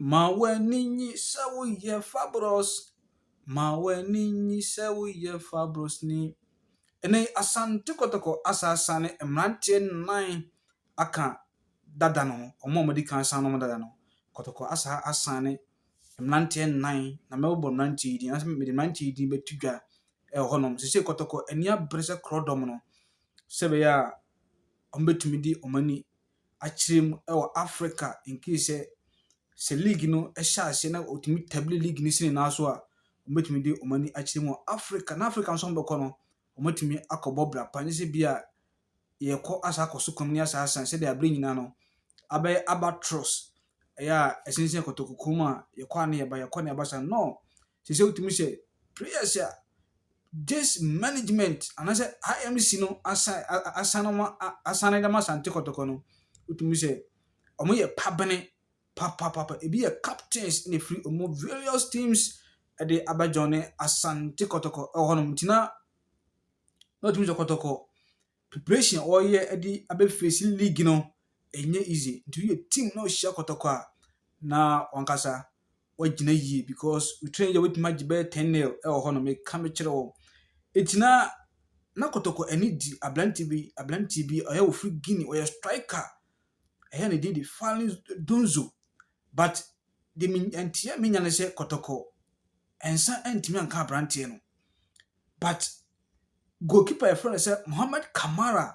Ma w'ani nnye sɛ woyɛ fabulous, ma w'ani nnye sɛ woyɛ fabulousni. Ɛnnɛ yi, Asante Kotoko asaasa ne mmeranteɛ nnan aka dada no ho, wɔn a wɔdi kan san nom dada no. Kotoko asa asan ne mmeranteɛ nnan, na mɛbobɔ mmeranteɛ yi din anaasɛ mede mmeranteɛ yi din bɛto dwa wɔ hɔnom. Seesei Kotoko ani abere sɛ korɔdɔm no, sɛ ɛbɛyɛ a wɔbɛtumi de wɔn ani. akyerɛ mu wɔ Africa nkeesɛ sɛ league no hyɛ aseɛ na wɔtumi tabli league no si ne nan so a, wɔbɛtumi de wɔn ani akyerɛ mu wɔ Africa. Na Africa nso wɔbɛkɔ no, wɔatumi akɔbɔ bra pa, ne sɛ bi a yɛkɔ asa akɔ so kɔm ne asa asan sɛdeɛ abere nyinaa no abɛyɛ abatros ɛyɛ a ɛsensɛn kɔtɔkukuo mu a yɛkɔ a ne yɛba yɛkɔ ne yɛba saa no Ɛsɛ sɛ wotumi hyɛ prayers a Jess management anaasɛ IMC no asan asan wɔn asan de ma Asante Kɔtɔkɔ no. Wotumi sɛ wɔyɛ pabene papapapa. Ebi yɛ captains na efiri wɔn various teams de abɛjoin Asante Kɔtɔkɔ wɔ hɔnom. Nti na na wotumi sɛ Kɔtɔkɔ Preparation a wɔreyɛ de abɛ face league no ɛnyɛ easy nti woyɛ team na ɔhyia kɔtɔkɔ a na wankasa wagyina yie because wotumi yɛ wotumi agye bɛyɛ ten nail ɛwɔ hɔ no meka mekyerɛ wɔn eti na na kɔtɔkɔ ani di aberante bi aberante bi ɔyɛ ofiri guinea ɔyɛ striker ɛyɛ ne din de fali donzo but de me nteɛ me nya ne sɛ kɔtɔkɔ nsa ntumi anka aberanteɛ no but. Goalkeeper a yɛfrɛ no sɛ Mohamed Kamara.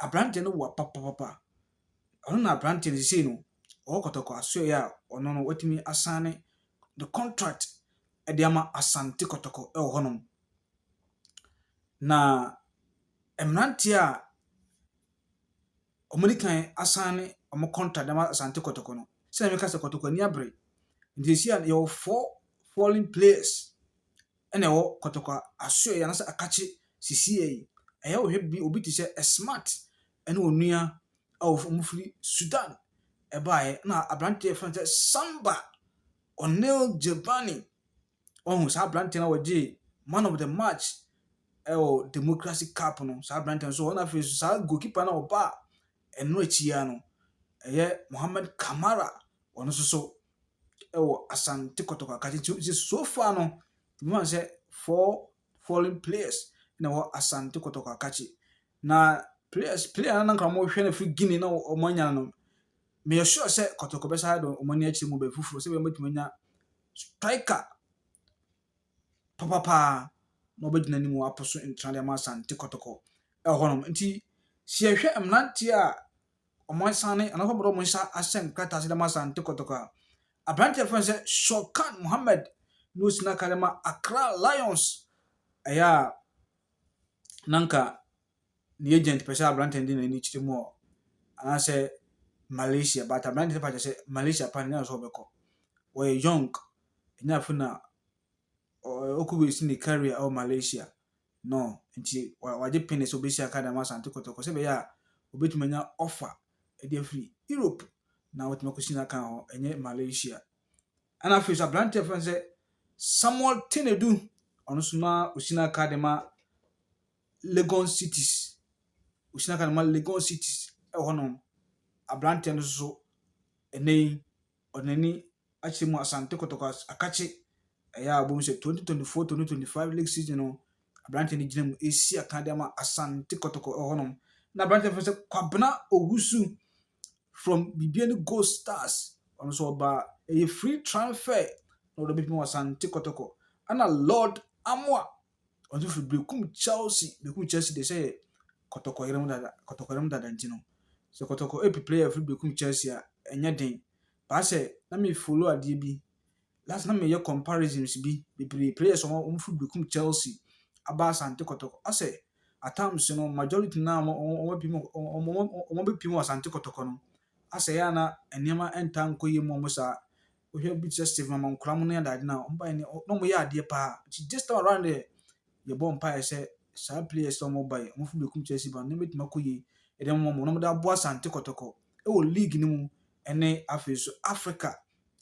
Aberanteɛ no boa papapapa. Ɔno na aberanteɛ no seesei no, ɔwɔ Kɔtɔkɔ asoɛeɛ a ɔno no watumi asane ne contract de ama Asante Kɔtɔkɔ wɔ hɔnom. Na mmeranteɛ a wɔde kan asane wɔn contract de ama Asante Kɔtɔkɔ no, sɛdeɛ meka sɛ Kɔtɔkɔ ani abere. Nti seesei a yɛwɔ four fallen players. na ɛwɔ kɔtɔkɔ asoɛe anaasɛ akakye sisiiɛ yi. Ɛyɛ a wohwɛ bi obi te sɛ Esmat ne onua a wɔfiri Sudan baeɛ na aberanteɛ a yɛfrɛ no sɛ Samba Onel Jebani. Wahu saa aberanteɛ na wɔgyee man of the match ɛwɔ Democracy Cup no. Saa aberanteɛ nso ɔna afei nso saa goalkeeper na ɔbaa ɛno akyi ya no ɛyɛ Mohamed Kamara ɔno nso so wɔ Asante Kotoko Akatsi nti nti so far no mehu sɛ four foreign players na wɔ Asante Kotoko Akatsi na players player na nka wɔhwɛ no firi Guinea na wɔn anya no meyɛ sure sɛ Kotoko bɛsa ayɛ dɔn wɔn ani akyerɛ mu bɛyɛ foforɔ sɛ wɔbɛtumi anya striker papapaa na wɔbɛgyina anim wɔapo so ntra de ama Asante Kotoko ɛhɔnom nti sɛ yɛhwɛ mmeranteɛ a wɔn asiane anaasɛ wɔde wɔn nsa ahyɛ nkrataa ase de ama Asante Kotoko a, aberante a yɛfrɛ no sɛ Shorkan Mohammed na osi n'aka de ma Accra Lions. Ɛyɛ a na nka ne agent pɛ sɛ aberante no de n'ani kyerɛ mu hɔ anaasɛ Malaysia but aberante no fa kyerɛ sɛ Malaysia pa ne na sɛ ɔbɛkɔ. Wɔyɛ young, ɛnyɛ afei na ɔkɔ bɛsi ne career wɔ Malaysia. no nti wagye pene sɛ ɔbɛsi aka dɛm Asante Kɔtɔkɔ sɛ ɛbɛyɛ a ɔbɛtumi anya ɔfa de afiri Europe na watumi akɔsi n'akan hɔ, ɛnyɛ Malaysia. Ɛna afei nso aberanteɛ fɛn sɛ Samuel Tenedu, ɔno nso na ɔsi n'aka de ma Legon Cities, ɔsi n'aka de ma Legon Cities ɛwɔ hɔnom. Aberanteɛ no nso ɛnɛ yi wɔn ani akyerɛ mu Asante Kotoko akakye ɛyɛ a wɔbom sɛ 2024-2025 league season no aberanteɛ no gyina mu ɛsi akan de ama Asante Kotoko ɛhɔnom na aberanteɛ fɛ sɛ Kwabena Owusu from Bibiani Gold Stars ɔno nso ɔba ɛyɛ free transfer na ɔdɔ bɛtumi wɔ Asante Kotoko ɛna Lord Amoa ɔdze fir bekum Chelsea, bekum Chelsea dɛ sɛ yɛ kɔtɔkɔyerɛm dada kɔtɔkɔyerɛm dada ntsi no, sɛ kɔtɔkɔ epi player fir bekum Chelsea a, nnyɛ den. Baa sɛ na me follow adeɛ bi, last na meyɛ comparisons bi bebree players a wɔn fir bekum Chelsea aba Asante kɔtɔkɔ. Asɛ at times no majority no a wɔn wɔn pim wɔn wɔn wɔn bɛpim wɔ Asante kɔtɔkɔ no, asɛ yɛ a na nneɛma ntaa nkɔ yie mu wɔn saa. wohwɛ bi te sɛ Stephen Among Kora mo ne adaade no a, wɔn baeɛ no, na wɔyɛ adeɛ paa. Nti this time around deɛ, yɛbɔ mpaeɛ sɛ saa players a wɔn baeɛ, wɔn fi Bekum Chelsea ba no, wɔbɛtumi akɔ yie de ama wɔn, na wɔde aboa Asante Kɔtɔkɔ wɔ league no mu ne afei nso Africa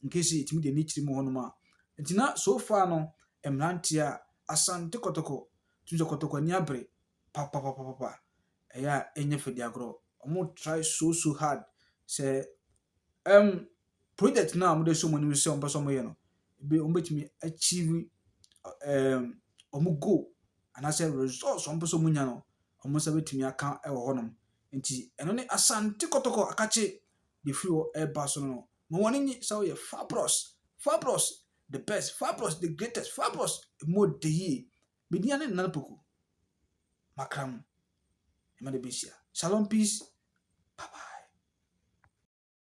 in case yɛtumi de ani kyerɛ mu hɔnom a. Nti na so far no, mmeranteɛ a Asante Kɔtɔkɔ, tumi sɛ Kɔtɔkɔ ani abere papapapapa, ɛyɛ a ɛnyɛ fɛ di agorɔ. Wɔn try so so hard sɛ um, project no a wɔde ahyɛ wɔn anim sɛ wɔpɛ sɛ wɔyɛ no, ebi wɔbɛtumi achieve ɛɛm wɔn goal anaasɛ results a wɔpɛ sɛ wɔnya no, wɔn nsa bɛtumi aka wɔ hɔnom. Nti ɛno ne Asante Kɔtɔkɔ akakye deɛ ɛfiri hɔ ɛreba so no. Ma wɔn ani nye sɛ woyɛ Fabros. Fabros the best, Fabros the greatest, Fabros mu ɔdɛ yie. Me din ne Nana Poku. Makra mu. Ɛma de bɛhyia. Shalom peace. Bye bye.